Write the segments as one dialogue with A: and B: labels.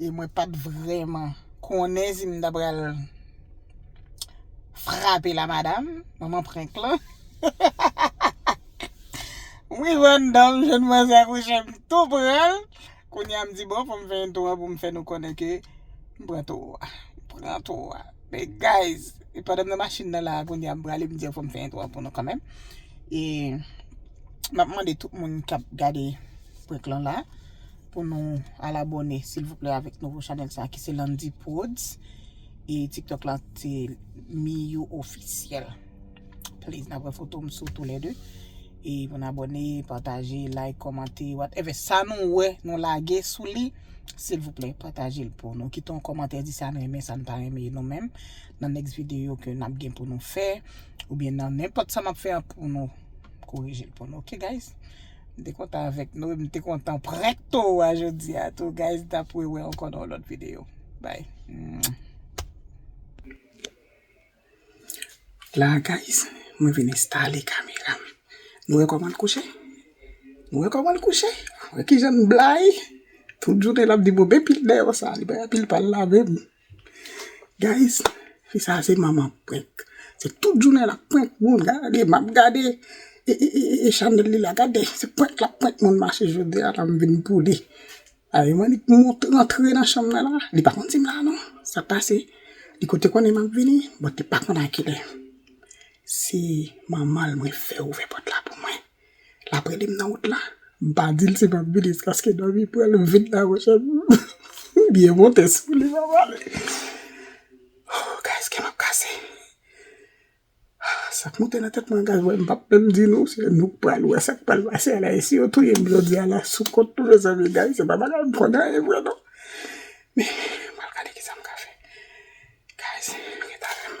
A: E mwen pat vreman konnen si m ta pral frape la madam, manman prank lan. M rive anndan m jwenn mwen sa kouche m tou pran l. Kounya m di bon fò m fè yon tou an pou m fè nou konnen ke m pran towo a. M pran towo a. Men guys, e pandan m nan machin nan la kounya m prale m di yo fò m fè yon tou an pou nou kanmenm. E m ap mande tout moun k ap gade prank lan la. Pou nou al abòne silvouplè avèk nouvo chanèl sa ki se Landy Prodz e tiktok la se Miyou Officiel please nan pran foto m sou tou lè 2 e pou n abòne pataje like kòmante wat evè sa nou wè nou lage sou li silvouplè pataje l pou nou kite yon kòmantè di sa n renmen sa n pa renmen nou menm nan next video ke n ap gen pou nou fè oubyen nan nenpòt sa m ap fè an pou nou korije l pou nou ok guys. M te kontan avèk nou e m te kontan prank toro a jodi a tou guys m ta pre wè ankò nan yon lòt video bye. La guys mwen vin enstale kameram nou wè kòman l kouche nou wè kòman l kouche wè kijan l blayi tout jounen l ap di m wè pil deyò sa li bay anpil pal lave m. Guys fi sa se manman prank se tout jounen lap prank moun gade map gade e chanel li la gade se prank lap prank moun mache jodi a la m vin pou li a e mwen li rantre nan chanm nan la li pa konn dim la non sa pase li ko te konnen map vini but li pa konn a kilè se manmanl mwen fè ouvè pòt la pou mwen. Lap relem nan wout la. M pa dil si map vini jiskaske dòmi pran l m vin nan mon chè. M byen monte sou li map ale. Ohh guys kèm ap kase. Sak monte nan tèt mwen guys m pap menm di nou se nou k pral wè sak pral pase a la e si yo touye m jodi a la sou kont nou mezanmi guys se pa bagay m konn anyen vre non. Men m pral gade kisa m ka fè. Guys ret avè m.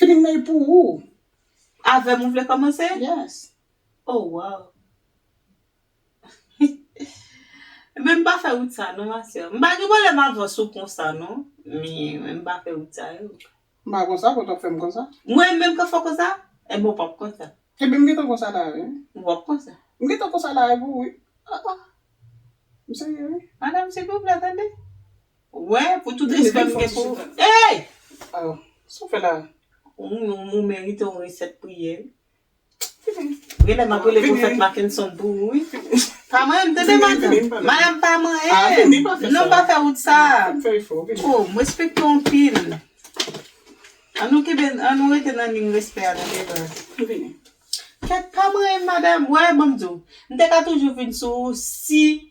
A: Knmèy pou ou! Avèm ou
B: vle kòmanse? Yes.
A: Oh wow!
B: Ebyen m pa fè wout sa non ma sè. M pa gen pwoblèm avans ou konsa non, men m pa fè wout sa yo. M pa konsa,
A: fò w tap fèm konsa. Mwen menm ka fè w konsa?
B: Ebyen w pap konsa. Ebyen m gentan konsa la
A: wi. Ou pap konsa.
B: M gentan konsa la avè
A: w wi. Ah ah. M serye wi. Madam silvouplè tande.
B: Wè pou tout respè m gen
A: pou ou Eyy! Oh sa w fè la? Ou
B: merite yon resèt priyè wi. Genlè map rele pwofèt Mackenson pou ou wi. Pa manyenm tande madanm. Madanm pa manyenm. Non pa fè wout sa. Oh m respekte w anpil. An nou kenbe an nou rete nan liy respè a tande baz. Kèt pa manyenm madanm. Wè banm di w. M te ka toujou vin sou ou si.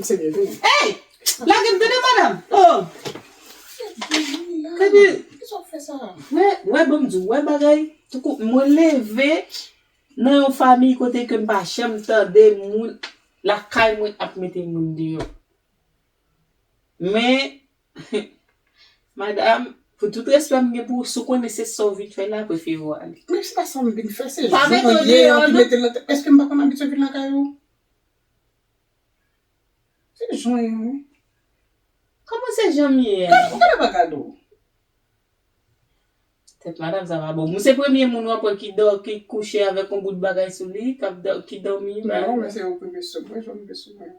A: Hey! Lage
B: m tande madam!
A: Oh! Epi, wè, wè banm di w,
B: wè bagay, touko mwen leve nan yon famiy kote ke m pa janm tande moun lakay mwen ap mete moun deyò. Men, madam, pou tout respè m gen pou ou, si w konnen se sa w vin fè la, prefere w ale. Men se pa sa m vin fè,
A: se jan mwen ye an ki mete m
B: nan tèt.
A: Eske m pa konn abitye vin lakay ou? Finn jwenn wi.
B: Kòman se janm ye a? Gade gade bagay do. Tèt madam sa pa bon. Ou se premye moun wap wè ki dò ki kouche avèk yon bout bagay sou li kap dò ki dòmi pa. Non men se yon premye
A: sou mwen janm vle sou mwen.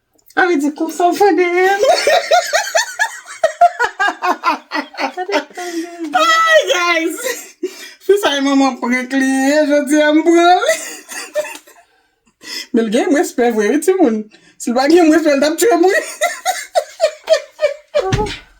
B: A vle di konsa w fè dèyè m.
A: Ayy guys Fi sa gen manman prank li ye jodi a m pran li Men l gen respè vre wi timoun Si l pa t gen respè l tap tchwem wi.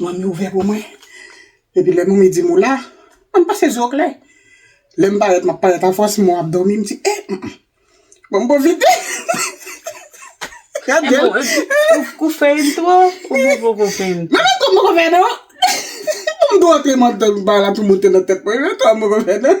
A: Manmi ouvè pou mwen. Epi lè manmi di m ou la, an m pase zo klè. Lè m parèt, m ap parèt afòs, mwen ap dòmi, m di e, m m. Bon m pwofite. Gad jè l. Ou fè yn
B: twò, ou pa poko fè yn twò. Manmi m twò m poko fè non.
A: Pou m tou antre mantal m pa la tou monte nan tèt mwen, twò m poko fè non.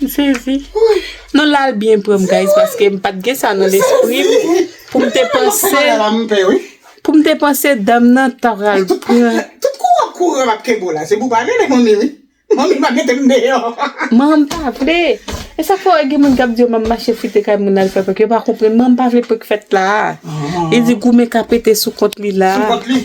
B: M sezi. Non la al byen pranm guys paske m pat gen sa nan lespri m pou m te panse pou m te panse dam nan ta pral pran Tout
A: kou wap kouri wap kenbe w la se pou w pa rele manmi wi. Manmi pa mete m deyò. Man m pa vle.
B: E sa fè wè gen moun kap di yo man mache fouye kay moun al fè prank yo pa konprann man m pa vle prank fèt la a. Li di goumen ka pete sou kont li la a. Sou kont li.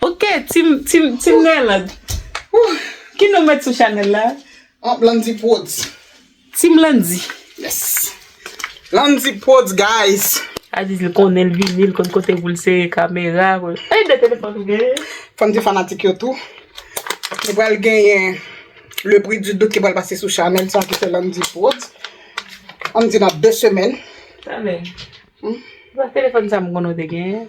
B: Ok team team team Nerland Ooh ki non met sou chanel la? An Landy prodz.
A: Team
B: Landy. Yes
A: Landy prodz guys. Aziz li konnen
B: li vini li konn kote poul sere kamera. Ey 2 telefòn ou genyen? Fòm di fanatik
A: yo tou nou pral genyen le prix du doute ki pral pase sou chanel sa ki se Landy prodz ann di nan 2 semèn. Amèn.
B: Telefòn sa m konnen ou te genyen.